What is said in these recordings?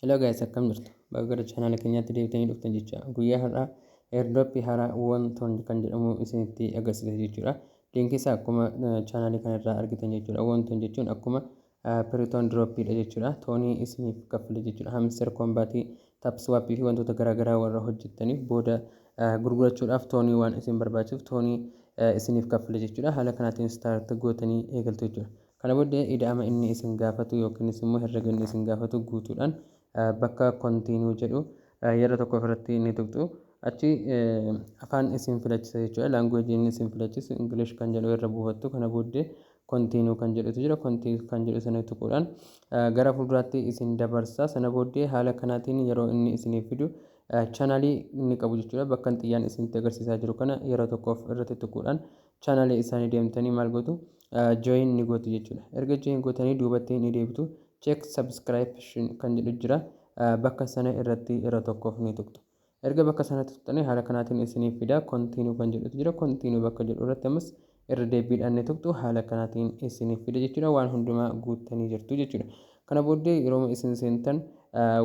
Hello guys akkam jirtu baga gara chaanaala keenyaatti deebitanii dhuftan jecha guyyaa har'aa airdrop haaraa wantoon kan jedhamu isinitti agarsiisa jechuudha liinkii isaa akkuma chaanaalii kanarraa argitan jechuudha wantoon jechuun akkuma piriton dirooppiidha jechuudha toonii isiniif kaffale jechuudha hamster kombaatii tapswaapii fi wantoota garaagaraa warra hojjettaniif booda gurgurachuudhaaf toonii waan isin barbaachisuuf toonii isiniif kaffale jechuudha haala kanaatiin staart gootanii eegaltu jechuudha Kana booddee ida'ama inni isin gaafatu yookiinis immoo herrega inni isin gaafatu guutuudhaan bakka Continue jedhu yeroo tokko ofirratti ni tuqxu. Achi afaan isin filachisa jechuudha. Language inni isin filachisu English kan jedhu irra buufattu. Kana booddee Continue kan jedhutu jira. Continue kan jedhu sana tuquudhaan gara fuulduraatti isin dabarsa. Sana booddee haala kanaatiin yeroo inni isiniif fidu chanalii inni qabu jechuudha. Bakka xiyyaan isinitti agarsiisaa jiru kana yeroo tokkoof irratti tuquudhaan channel isaanii deemtanii maal gootu join ni gootu jechuudha. Erga join gootanii duubatti ni deebitu check subscription kan jedhu jira bakka sana irratti irra tokkoof ni tuqxu. Erga bakka sanatti tuqxanii haala kanaatiin isiniif fida continue kan jedhutu jira continue bakka jedhu irratti ammas irra deebiidhaan ni tuqxu haala kanaatiin isiniif fida jechuudha waan hundumaa guuttanii jirtu jechuudha. Kana booddee yeroo isin seentan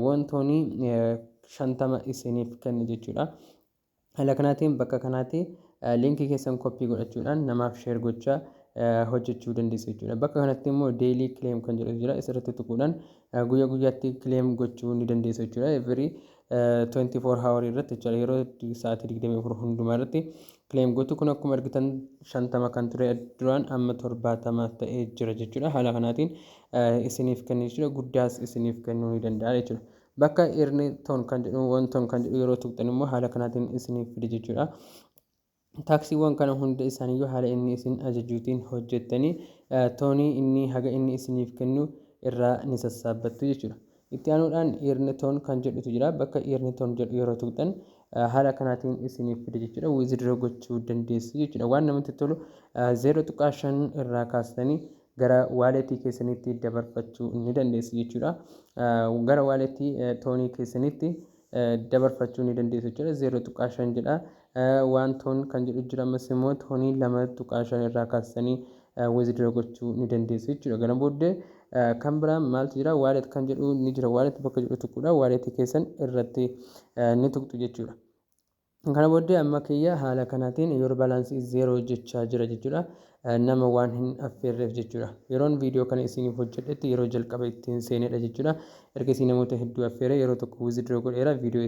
wantoonni shantama isiniif kenna jechuudha. Haala kanaatiin bakka kanaati liinkii keessan koppii godhachuudhaan namaaf sheer gochaa hojjechuu dandeessu jechuudha. Bakka kanatti immoo deelii kileem kan jedhu jira. Isirratti tuquudhaan guyyaa guyyaatti kileem gochuu ni dandeessu jechuudha. Every 24 hour irratti jechuudha. Yeroo sa'aatii 24 hundumaa irratti kileem gochuu kun akkuma argitan 50 kan ture duraan amma 70 ta'ee jira jechuudha. Haala kanaatiin isiniif kennu jechuudha. Guddaas isiniif kennuu ni danda'a jechuudha. Bakka earn ton kan jedhu won ton kan jedhu yeroo tuqxan immoo haala kanaatiin isiniif fide jechuudha. Taaksiiwwan kana hunda isaaniiyyuu haala inni isin ajajuutiin hojjettanii toonii inni haga inni isiniif kennu irraa ni sassaabbattu jechuudha. Itti aanuudhaan earn ton kan jedhutu jira. Bakka earn ton jedhu yeroo tuqxan haala kanaatiin isiniif fide jechuudha. Withdraw gochuu dandeessu jechuudha. Waan namatti tolu 0.5 irraa kaastanii gara wallet keessanitti dabarfachuu ni dandeessu jechuudha. Gara wallet toonii keessanitti dabarfachuu ni dandeessu jechuudha. 0.5 jedha. Waan toon kan jedhu jira ammas immoo toonii 2.5 irraa kaastanii withdraw gochuu ni dandeessu jechuudha. Kana booddee kan biraa maaltu jira? Wallet kan jedhu ni jira. Wallet bakka jedhu tuquudha. Wallet keessan irratti ni tuqxu jechuudha. Kana booddee amma kiyya haala kanaatiin your balance is zero jechaa jira jechuudha. Nama waan hin affeerreef jechuudha. Yeroon viidiyoo kana isiiniif hojjedhetti yeroo jalqaba ittiin seenedha jechuudha. Ergasii namoota hedduu affeeree yeroo tokko withdraw godheera viidiyoo